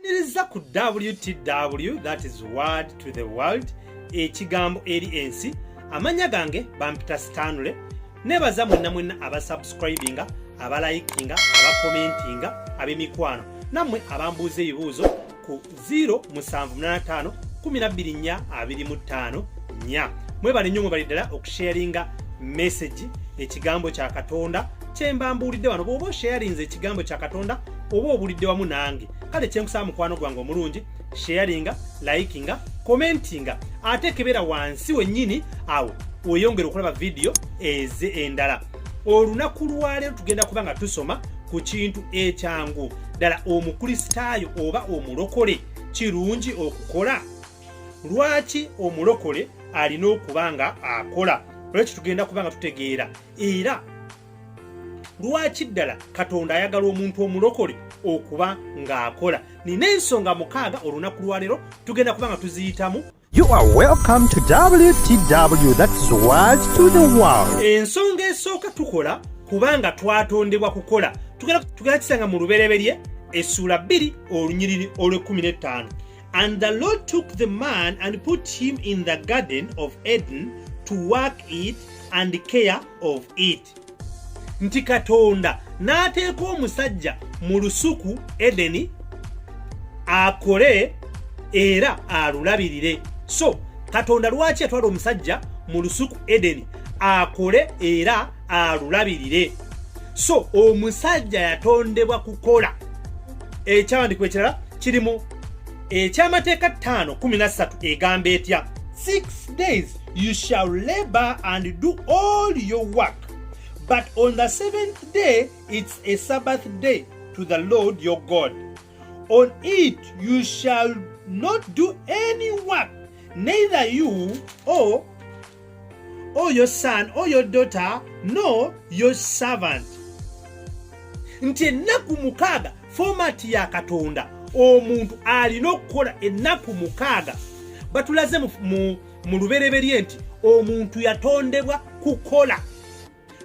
Niriza ku WTW that is word to the world ekigambo eri ensi amanya gange bampita Stanley nebaza mwenna mwenna abasubscribinga abalayikinga abakomentinga ab'emikwano nammwe abambuuza ebibuuzo ku 0785 1245 mwebale nnyo mwebali ddala okusharinga meseji ekigambo kya katonda kyemba mbuulidde wano bw'oba osheyalinze ekigambo kya katonda oba obulidde wamu nange kale kyenkusaba mukwano gwange omulungi sheyalinga likinga commentinga ate kebera wansi wennyini awo weyongere okulaba vidiyo eze endala olunaku lwaleero tugenda kuba nga tusoma ku kintu ekyangu ddala omukristaayo oba omulokole kirungi okukola lwaki omulokole alina okuba nga akola olwekyo tugenda kuba nga tutegeera era lwaki ddala katonda ayagala omuntu omulokole okuba ng'akola nina ensonga mukaaga olunaku lwaleero tugenda kuba nga tuziyitamu You are welcome to WTW, that's World to the World. Ensonga esooka tukola kubanga twatondebwa kukola tugenda kisanga mu lubereberye essuula bbiri olunyiriri olw'ekkumi n'ettaano And the Lord took the man and put him in the garden of Eden to work it and care of it. Nti Katonda n'ateeka omusajja mu lusuku Edeni akole era alulabirire. So Katonda lwaki yatwala omusajja mu lusuku Edeni akole era alulabirire so omusajja yatondebwa kukola ekyawandikwa ekirala kirimu ekyamateeka 513 egamba etya 6 days you shall labor and do all your work but on the seventh day it's a sabbath day to the lord your god on it you shall not do any work neither you or or your son or your daughter nor your servant nti ennaku mukaaga fomati ya katonda omuntu alina okukola ennaku mukaaga batulaze mu lubereberye nti omuntu yatondebwa kukola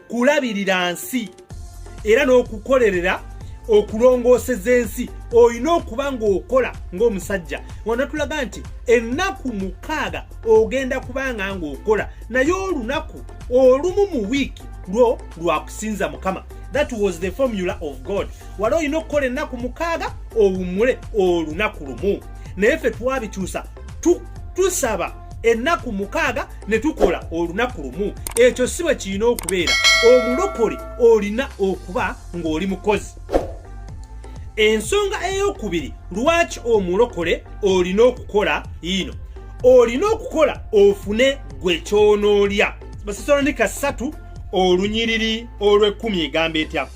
kulabirira nsi era n'okukolerera okulongooseza ensi olina okuba ng'okola ng'omusajja wanatulaga nti ennaku mukaaga ogenda kubanga ng'okola naye olunaku olumu mu wiiki lwo lwakusinza mukama that was the formula of god wali olina okukola ennaku mukaaga owummule olunaku lumu naye ffe twabikyusa tusaba ennaku mukaaga ne tukola olunaku lumu ekyo si bwe kirina okubeera omulokole olina okuba ng'oli mukozi ensonga ey'okubiri lwaki omulokole olina okukola yiino olina okukola ofune gwe kyonoolya basesalonika ssatu olunyiriri olw'ekkumi egamba etya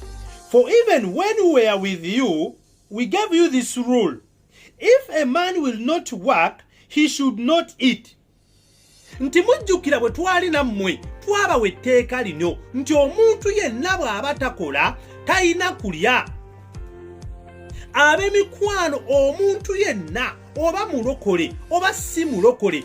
for even when we are with you we gave you this rule if a man will not work he should not eat nti mujjukira bwe twali nammwe twabawa etteeka lino nti omuntu yenna bw'aba takola talina kulya ab'emikwano omuntu yenna oba mulokole oba si mulokole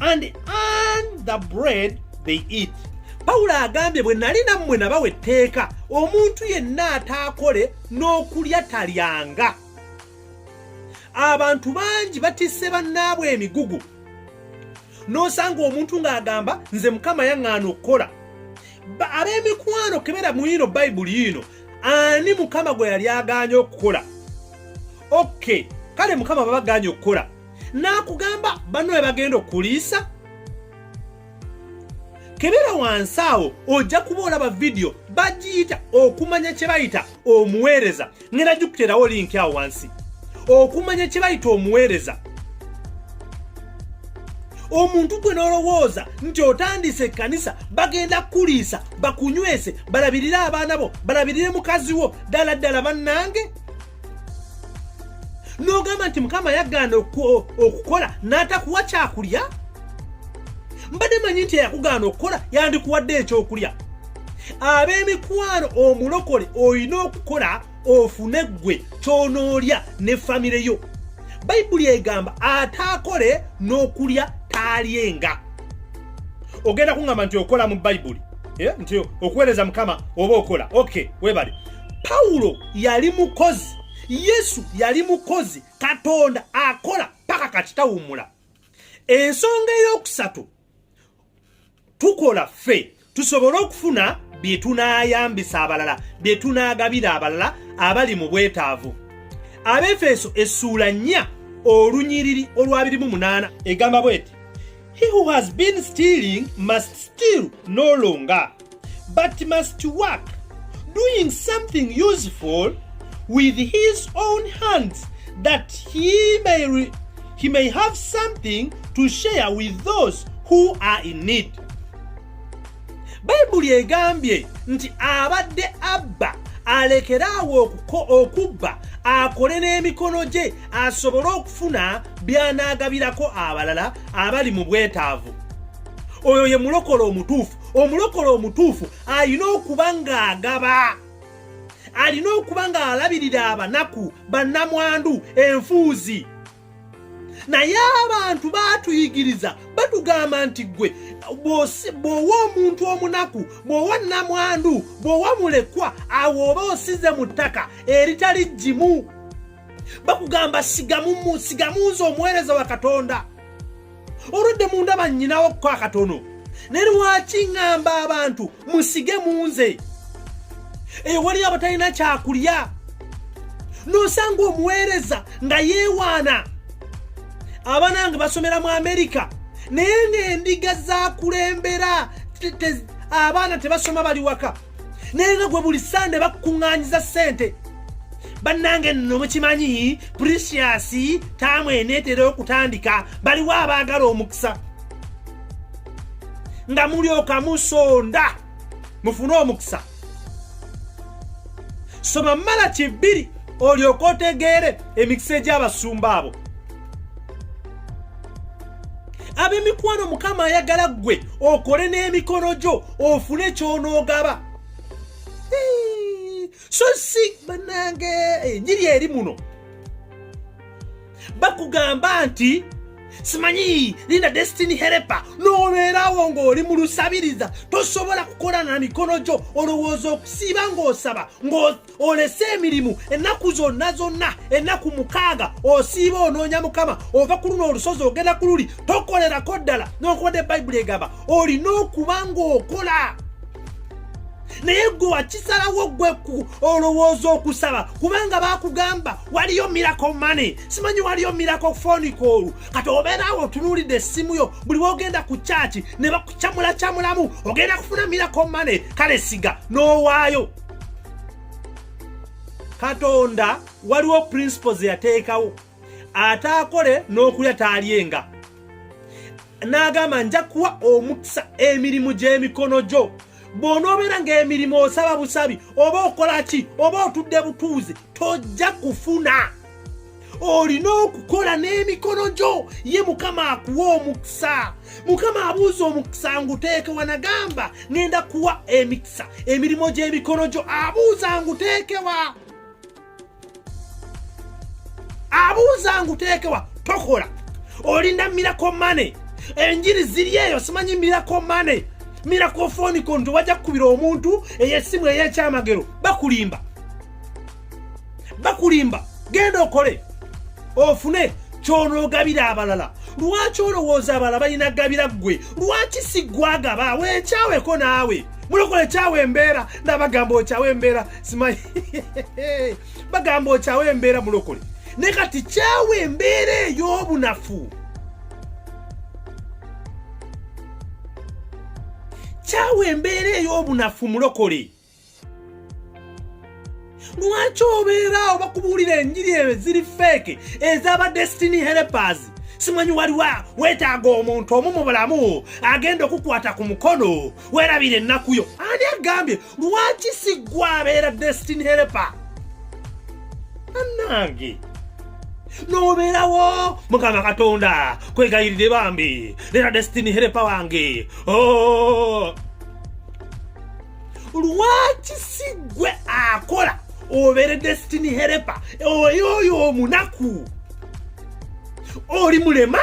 and earn the bread they eat pawulo agambye bwe nali nammwe nabawa etteeka omuntu yenna ataakole n'okulya talyanga abantu bangi batisse bannaabwe emigugu n'osanga omuntu ng'agamba nze mukama yaŋŋaana okukola ab'emikwano kebera mu ino bayibuli ino ani mukama gwe yali agaanye okukola oke kale mukama babagaanye okukola n'akugamba banno we bagenda okuliisa kebera wansi awo ojja kuba olaba vidiyo bagiyita okumanya kye bayita omuweereza ngenda gikuteerawo linki awo wansi okumanya kye bayita omuweereza omuntu gwe n'olowooza nti otandise ekkanisa bagenda kukuliisa bakunywese balabirire abaana bo balabirire mukazi wo ddala ddala bannange n'ogamba nti mukama yagaana okukola n'atakuwa kyakulya mbadde manyi nti eyakugaana okukola yandikuwadde ekyokulya ab'emikwano omulokole olina okukola ofune ggwe kyonoolya ne famire yo bayibuli egamba ataakole n'okulya taalyenga ogenda kuŋŋamba nti okola mu bayibuli eh, nti okuweereza mukama oba okola ok webale pawulo yali mukozi yesu yali mukozi katonda akola paka kati tawumula ensonga eyokusatu tukola ffe tusobole okufuna bye tunaayambisa abalala bye tunaagabira abalala abali mu bwetaavu abefeeso essuula nnya olunyiriri olwabirimu munaana egamba bweti he who has been stealing must steal no longer but must work doing something useful with his own hands that he may, re- he may have something to share with those who are in need bayibuli egambye nti abadde abba alekere awo okubba akole n'emikono gye asobole okufuna by'anaagabirako abalala abali mu bwetaavu oyo ye mulokola omutuufu omulokole omutuufu alina okuba ng'agaba alina okuba ng'alabirira abanaku bannamwandu enfuuzi naye abantu batuyigiriza batugamba nti gwe bw'owa omuntu omunaku bw'owa nnamwandu bw'owa mulekwa awo oba osize mu ttaka eritali jjimu bakugamba sigamu nze omuweereza wa katonda oludde mu ndaba nnyinawo okuko akatono naye lwaki ŋŋamba abantu musige mu nze eyo waliyo abatalina kyakulya n'osanga omuweereza nga yeewaana abaana nga basomera mu amerika naye ng'endiga zakulembera abaana tebasoma bali waka naye nga gwe buli sande bakukuŋŋanyiza ssente bannange nno mukimanyi precious taamu eneetera okutandika baliwo abaagala omukisa nga mulyoka musonda mufune omukisa soma mala kibbiri olyoka otegeere emikisa egy'abasumba abo ab'emikwano mukama ayagala ggwe okole n'emikono gyo ofune kyonoogaba so si banange enjiri eri muno bakugamba nti simanyi linda destiny herepa nobeerawo ng'oli mu lusabiriza tosobola kukola na mikono gyo olowooza okusiiba ng'osaba olese emirimu ennaku zonna zonna ennaku mukaaga osiiba onoonya mukama ova ku luno olusozi ogenda ku luli tokolerako ddala nokubadde bayibuli egamba olina okuba ng'okola naye gwe wakisalawo gwe olowooza okusaba kubanga bakugamba waliyo mirako mane simanyi waliyo mirako fonikoolu kati obeeraawo otunuulidde essimu yo buli wogenda ku kyaki ne bakucamulakyamulamu ogenda kufuna mirako mane kale siga n'owaayo katonda waliwo principle zeyateekawo ate akole n'okulya taalyenga n'agamba nja kuwa omukisa emirimu gy'emikono gyo bw'onoobeera ng'emirimu osaba busabi oba okola ki oba otudde butuuzi tojja kufuna olina okukola n'emikono gyo ye mukama akuwa omukisa mukama abuuza omukisa nguteekewa nagamba ngenda kuwa emikisa emirimu gy'emikono gyo abuuza nguteekewa abuuza nguteekewa tokola olinda mirako mane enjiri ziri eyo simanyi mirako mane mirako fonikon tewajja kukubira omuntu eyesimu ey'ekyamagero bakulimba bakulimba genda okole ofune kyonoogabira abalala lwaki olowooza abalala balina gabira ggwe lwaki si gwagaba wekyaweko naawe mulokole kyawa embeera nabagamba okyawa embeera simanyi bagamba okyawa embeera mulokole ne kati kyawa embeera ey'obunafu kyawa embeera ey'obunafu mulokole lwaki obeeraawo bakubuulira enjiri eyo ziri feeke ezaba destiny helpers simanyi waliwo weetaaga omuntu omu mu bulamu agenda okukwata ku mukono weerabira ennaku yo ani agambye lwaki siggwa abeera destiny helper annange nobeerawo mukama katonda kwegayirire bambi lera destiny helper wange oh. lwaki si gwe akola obere destiny herepa oyo oyo omunaku oli mulema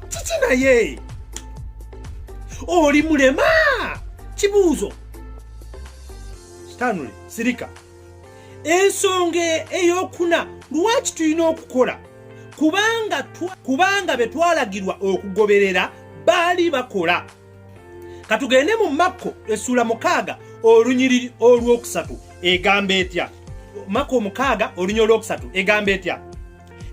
kiki naye oli mulema kibuuzo stanley sirika ensonga eyokuna lwaki tulina okukola kubanga betwalagirwa okugoberera baali bakola katugende mu makko essuula mukaaga olunyiriri olwokusatu egamba etya makko omukaaga olunyiri olwokusatu egamba etya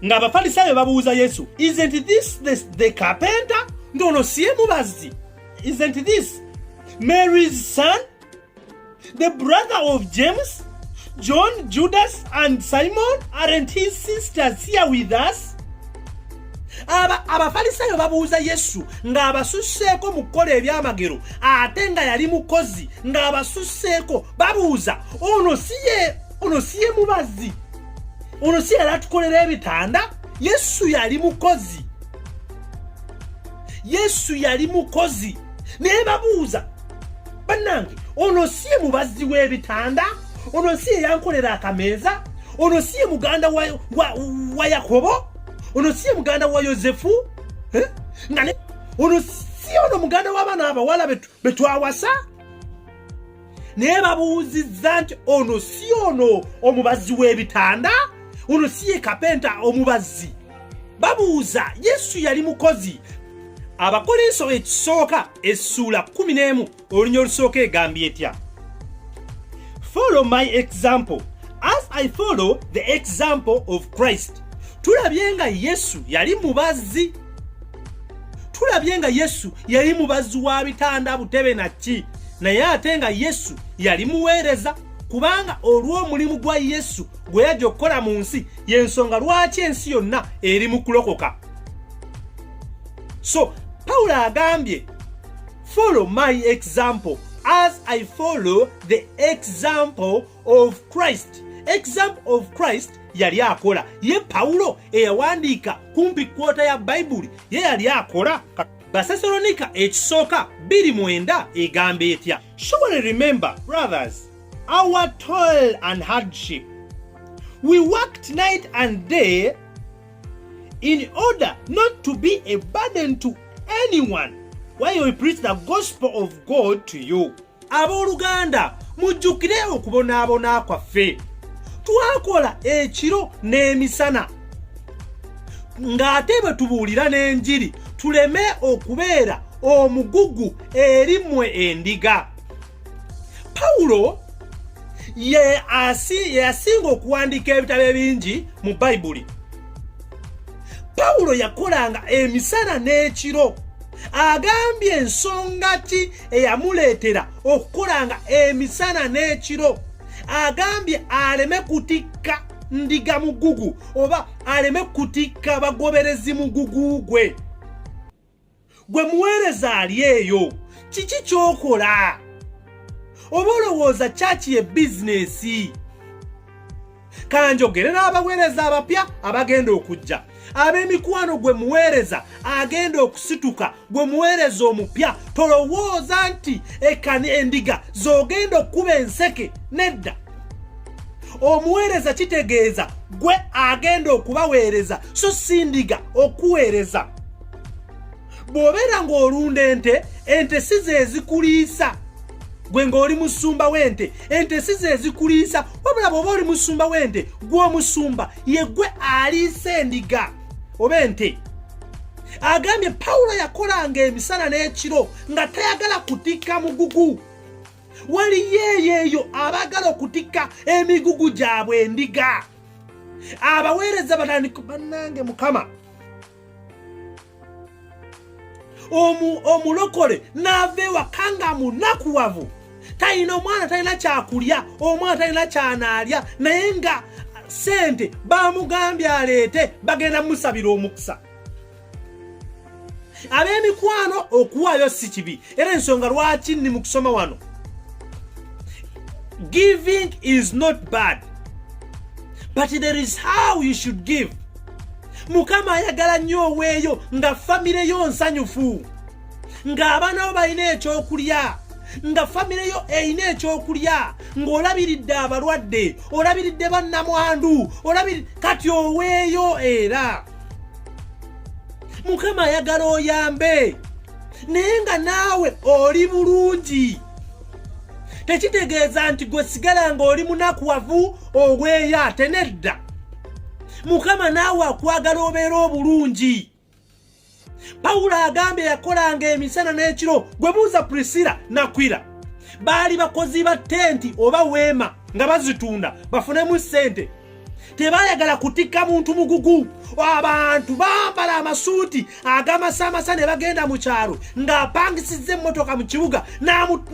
ng'abafalisaayo babuuza yesu isn't this the, the carpenter nti ono siye mubazzi isn't this mary's son The brother of James, John, Judas and Simon aren't his sisters here with us? abafalisaayo babuuza yesu ng'abasusseeko mu kukola ebyamagero ate nga yali mukozi ng'abasusseeko babuuza ono siye ono siye mubazi ono si yali atukolera ebitanda yesu yali mukozi yesu yali mukozi naye babuuza bannange ono si ye mubazzi w'ebitanda ono si ye yankolera akameeza ono si ye muganda wa, wa, wa yakobo ono si ye muganda wa yosefu eh? nga ne ono si ono muganda w'abaana abawala be twawasa naye babuuzizza nti ono si ono omubazzi w'ebitanda ono si ye kapenta omubazzi babuuza yesu yali mukozi abakolinso ekisooka essuula 11 olunya olusooka egambye etya follow my example as i follow the example of christ tulabye nga yesu yali mubazzi tulabye nga yesu yali mubazzi wa bitanda butebe nakki naye ate nga yesu yali muweereza kubanga olw'omulimu gwa yesu gwe yajja okukola mu nsi yensonga lwaki ensi yonna eri mu kulokoka so pawulo agambye follow my example as i follow the example of christ example of christ yali akola ye pawulo eyawandiika kumpi kwota ya bayibuli ye yali akola basesalonika ekisooka 2 mwenda egamba etya surely remember brothers our toil and hardship. We worked night and day in order not to be a burden to anyone while we preach the gospel of God to you. Abooluganda, mujjukire okubonaabona kwaffe. Twakola ekiro n'emisana. Ng'ate bwe tubuulira n'enjiri tuleme okubeera omugugu eri mwe endiga. Pawulo yeyasinga okuwandiika ebitabo ebingi mu bayibuli pawulo yakolanga emisana n'ekiro agambye ensonga ki eyamuleetera okukolanga emisana n'ekiro agambye aleme kutikka ndiga mugugu oba aleme kutikka bagoberezi mugugu gwe gwe muweereza ali eyo kiki kyokola oba olowooza kyaki ye bizinesi kanjogere n'abaweereza abapya abagenda okujja ab'emikwano gwe muweereza agenda okusituka gwe muweereza omupya tolowooza nti ekani endiga z'ogenda okukuba enseke nedda omuweereza kitegeeza gwe agenda okubaweereza so sindiga okuweereza bw'obeera ng'olunda ente ente si zezikuliisa gwe ng'oli musumba w'ente ente si zezikuliisa wabula bw'oba oli musumba w'ente gw'omusumba ye gwe aliisa endiga oba ente agambye pawulo yakolanga emisana n'ekiro nga tayagala kutikka mugugu waliyo eyo eyo abaagala okutikka emigugu gyabwe endiga abaweereza batandika bannange mukama omulokole n'ava ewaka nga munakuwavu talina omwana talina kyakulya omwana talina kyanaalya naye nga sente bamugambye aleete bagenda musabira omukisa ab'emikwano okuwaayo si kibi era ensonga lwaki ndi mu kusoma wano giving is not bad but there is how you should give mukama ayagala nnyo oweeyo nga famire yo nsanyufu ng'abaana bo balina ekyokulya nga famire yo erina ekyokulya ng'olabiridde abalwadde olabiridde bannamwandu olabiri kati oweeyo era mukama ayagala oyambe naye nga naawe oli bulungi tekitegeeza nti gwe sigala nga oli munakuwavu obweyo ate nedda mukama naawe akwagala obeera obulungi pawulo agambye yakolanga emisana n'ekiro gwe buuza prisila nakwira baali bakozi ba tenti oba weema nga bazitunda bafunemu ssente tebayagala kutikka muntu mugugu abantu bambala amasuuti agamasamasa ne bagenda mu kyalo ng'apangisizza emmotoka mu kibuga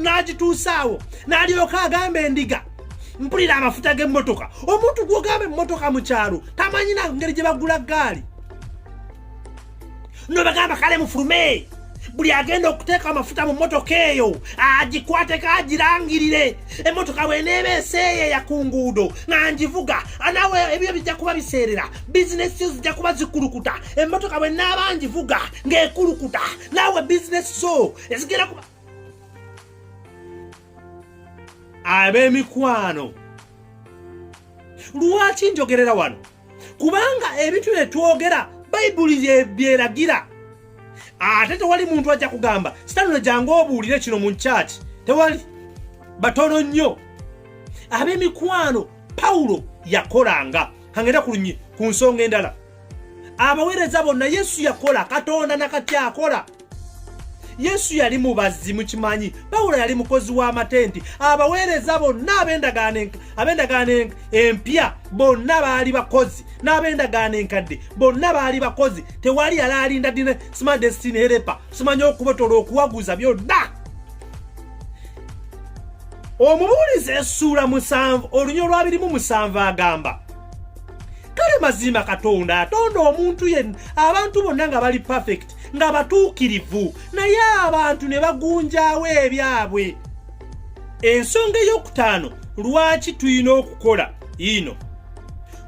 n'agituusaawo n'alyoka agamba endiga mpulira amafuta g'emmotoka omuntu gwogamba emmotoka mu kyalo tamanyina ngeri gye bagula ggaali no bagamba kale mufulume buli agenda okuteeka amafuta mu motoka eyo agikwateko agirangirire emotoka bweneeba eseeyeya ku nguudo nga ngivuga nawe ebyo bijja kuba biseerera bizinesi yo zijja kuba zikulukuta emotoka bwenaaba ngivuga ng'ekulukuta nawe bizinesi zo ezigenda kuba ab'emikwano lwaki njogerera wano kubanga ebintu bye twogera bayibuli byeragira ate tewali muntu ajja kugamba sitano jangu obuulire kino mu nkyaki tewali batono nnyo ab'emikwano pawulo yakolanga kangenda kulunyi ku nsonga endala abaweereza bonna yesu yakola katonda nakati akola yesu yali mubazzi mukimanyi pawulo yali mukozi w'amatenti abaweereza bonna ab'endagaano empya bonna baali bakozi n'ab'endagaano enkadde bonna baali bakozi tewali yali alinda dine sima destiny herepa simanya okubotola okuwaguza byonna omubuulizi esuula musanvu olunya olwabirimu musanvu agamba kale mazima katonda atonda omuntu yenna abantu bonna nga bali perfect nga batuukirivu naye abantu ne bagunjaawo ebyabwe ensonga ey'okutaano lwaki tulina okukola ino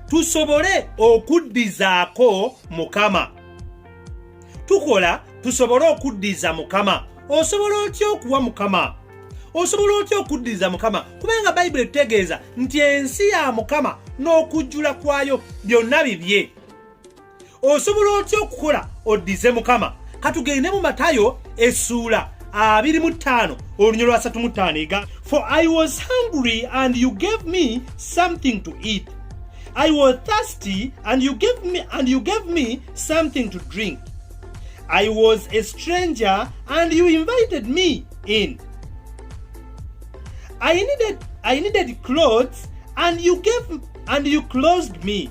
tusobole okuddizaako mukama tukola tusobole okuddiza mukama osobola otya okuwa mukama osobola otya okuddiza mukama kubanga bayibuli etutegeeza nti ensi ya mukama n'okujjula kwayo byonna bibye osobola otya okukola oddize mukama katugende mu matayo essuula abiri mu ttaano olunyo lwa satu mu ttaano ega for i was hungry and you gave me something to eat i was thirsty and you gave me, and you gave me something to drink i was a stranger and you invited me in i needed, I needed clothes and you gave and you closed me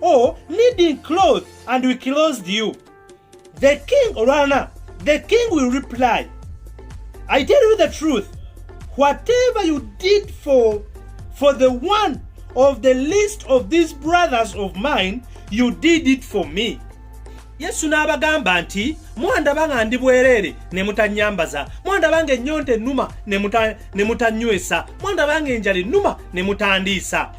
or needing clothes and we clothed you. The king, Orana, the king will reply, I tell you the truth, whatever you did for, for the one of the least of these brothers of mine, you did it for me. yesu n'abagamba nti mwandaba nga ndi bwereere ne mutanyambaza mwandaba nga ennyonta ennuma ne mutanywesa mwandaba nga enjala ennuma ne mutandiisa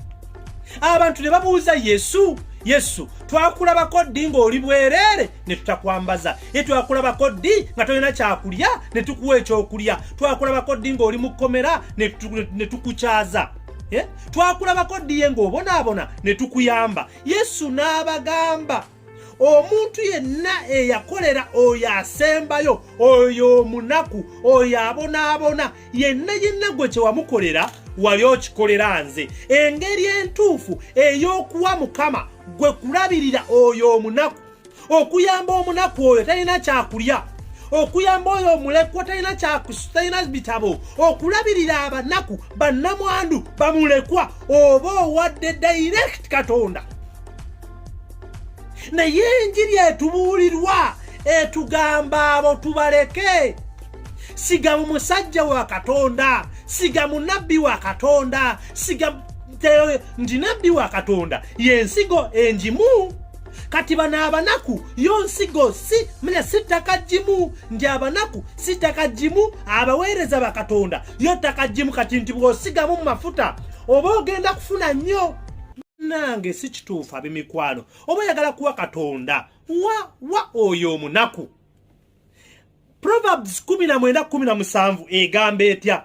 abantu ne babuuza yesu yesu twakulabako ddi ng'oli bwereere ne tutakwambaza ye twakulabako ddi nga tolina kyakulya ne tukuwa ekyokulya twakulabako ddi ng'oli mu kkomera ne tukukyaza twakulabako ddi ye ng'obonaabona ne tukuyamba yesu n'abagamba omuntu yenna eyakolera oyo asembayo oyo omunaku oyo abonaabona yenna yenna gwe kyewamukolera wali okikolera nze engeri entuufu ey'okuwa mukama gwe kulabirira oyo omunaku okuyamba omunaku oyo talina kyakulya okuyamba oyo omulekwa talina kyakusitalina bitabo okulabirira abanaku bannamwandu bamulekwa oba owadde direct katonda naye enjiri etubuulirwa etugamba abo tubaleke siga mu musajja wa katonda siga mu nabbi wa katonda siga nti nabbi wa katonda yensigo enjimu kati bano abanaku yo nsigo si mune si ttaka jjimu nti abanaku si ttaka jjimu abaweereza bakatonda yo ttaka jjimu kati nti bw'osigamu mu mafuta oba ogenda kufuna nnyo nange si kituufu ab'emikwano oba oyagala kuwa katonda wa wa oyo omunaku proverbs 1917 egamba etya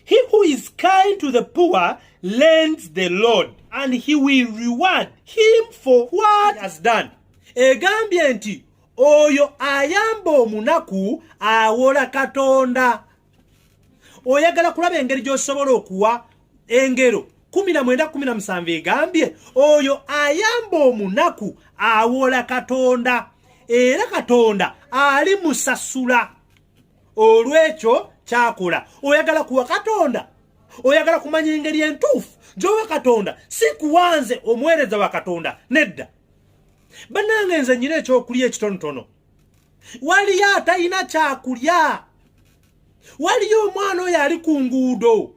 he who is kind to the poor lends the lord and he will reward him for what has done egambye nti oyo ayamba omunaku awola katonda oyagala kulaba engeri gy'osobola okuwa engero kumi na mwenda kumi na musanvu egambye oyo ayamba omunaku awola katonda era katonda ali musasula olw'ekyo kyakola oyagala kuwa katonda oyagala kumanya engeri entuufu gyowa katonda si kuwanze omuweereza wa katonda nedda bannange nze nyina ekyokulya ekitonotono waliyo atalina kyakulya waliyo omwana oyo ali ku nguudo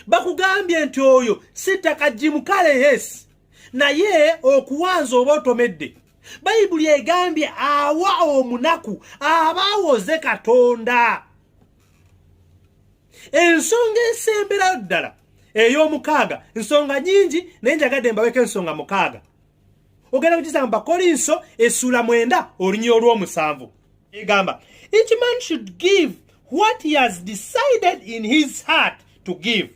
bakugambye nti oyo si ttaka jimu kale yesi naye okuwanza oba otomedde bayibuli egambye awa omunaku aba awoze katonda ensonga esemberayo ddala ey'omukaaga nsonga nyingi naye njagadde mbaweko ensonga mukaaga ogenda kukisanga bakolinso essuula mwenda olunya olw'omusanvu egamba each man should give what he has decided in his heart to give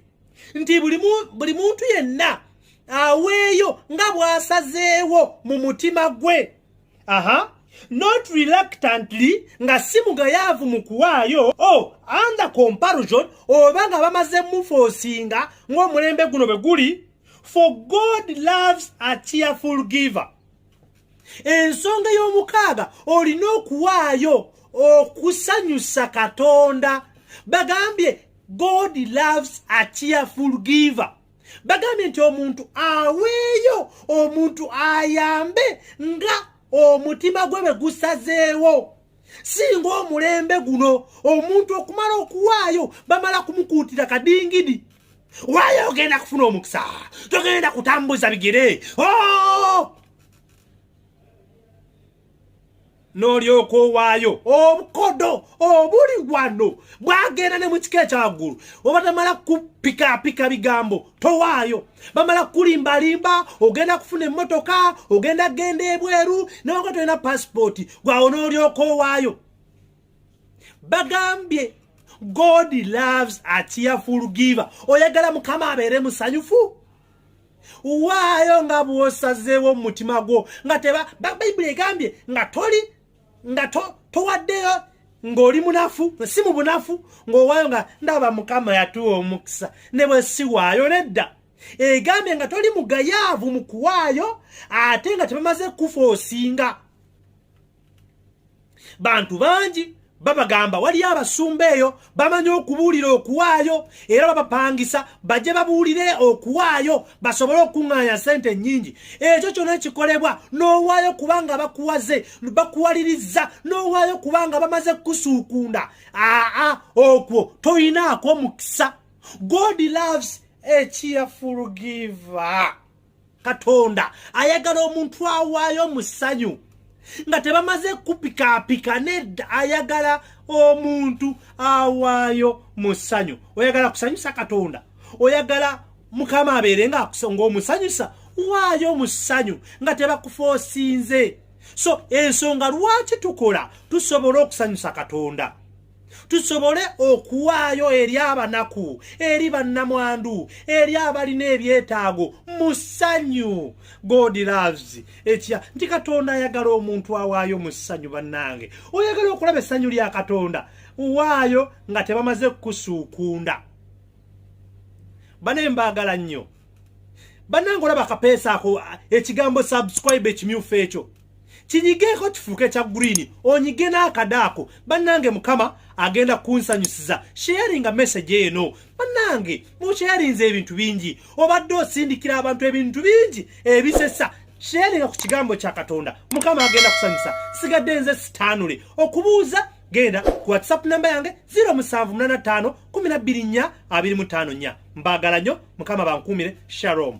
nti buli muntu yenna aweeyo nga bw'asazeewo mu mutima gwe aha not reluctantly nga si mugayaavu mu kuwaayo o oh, under comparison oba nga bamaze mufoosinga ng'omulembe guno bwe guli for god loves a cheerful giver ensonga y'omukaaga olina okuwaayo okusanyusa katonda bagambye god loves a cheerful giver bagambye nti omuntu aweeyo omuntu ayambe nga omutima gwe bwe gusazeewo singa omulembe guno omuntu okumala okuwaayo bamala kumukuutira kadingidi Waya ogenda kufuna omukisa, togenda kutambuza bigere oh! n'olyoka owaayo obukodo obuli wano bwagenda ne mu kika ekyaggulu oba tamala kupikaapika bigambo towaayo bamala kukulimbalimba ogenda kufuna emmotoka ogenda kugenda ebweru newaga tolina pasipooti gwawo n'olyoka owaayo bagambye god loves a cheerful giver oyagala mukama abeere musanyufu waayo nga bwosazeewo mu mutima gwo nga teba bayibuli egambye nga toli nga towaddeyo to ng'oli munafu si mu bunafu ng'owaayo nga ndaba mukama yatuwa omukisa ne bwe siwaayo nedda egambye nga toli mugayaavu mu kuwaayo ate nga tebamaze kufa osinga bantu bangi babagamba waliyo abasumba eyo bamanyi okubuulira okuwaayo era babapangisa bajje babuulire okuwaayo basobole okuŋŋaanya sente nnyingi ekyo kyona kikolebwa n'owaayo kubanga bakuwaze bakuwaliriza n'owaayo kubanga bamaze kukusuukunda aa okwo toyinaako mukisa god loves a cheerful giver katonda ayagala omuntu awaayo mu ssanyu nga tebamaze kupikaapika nedda ayagala omuntu awaayo mu ssanyu oyagala kusanyusa katonda oyagala mukama abeere ngaomusanyusa waayo mu ssanyu nga tebakufoosinze so ensonga lwaki tukola tusobola okusanyusa katonda tusobole okuwaayo eri abanaku eri bannamwandu eri abalina ebyetaago mu ssanyu god loves ekya nti katonda ayagala omuntu awaayo mu ssanyu bannange oyagala okulaba essanyu lya katonda waayo nga tebamaze kukusuukunda bane mbaagala nnyo bannange olaba akapeesa ako ekigambo subscribe ekimyufu ekyo kinyigeeko kifuuke kya green onyige n'akadaako bannange mukama agenda kunsanyusiza sharinga message eno bannange mukyarinza ebintu bingi obadde osindikira abantu ebintu bingi ebisesa sharinga ku kigambo kya katonda mukama agenda kusanyusa sigadde nze sitaanule okubuuza genda ku whatsapp namba yange 0785 124 25 nya mbaagala nnyo mukama bankuumire sharom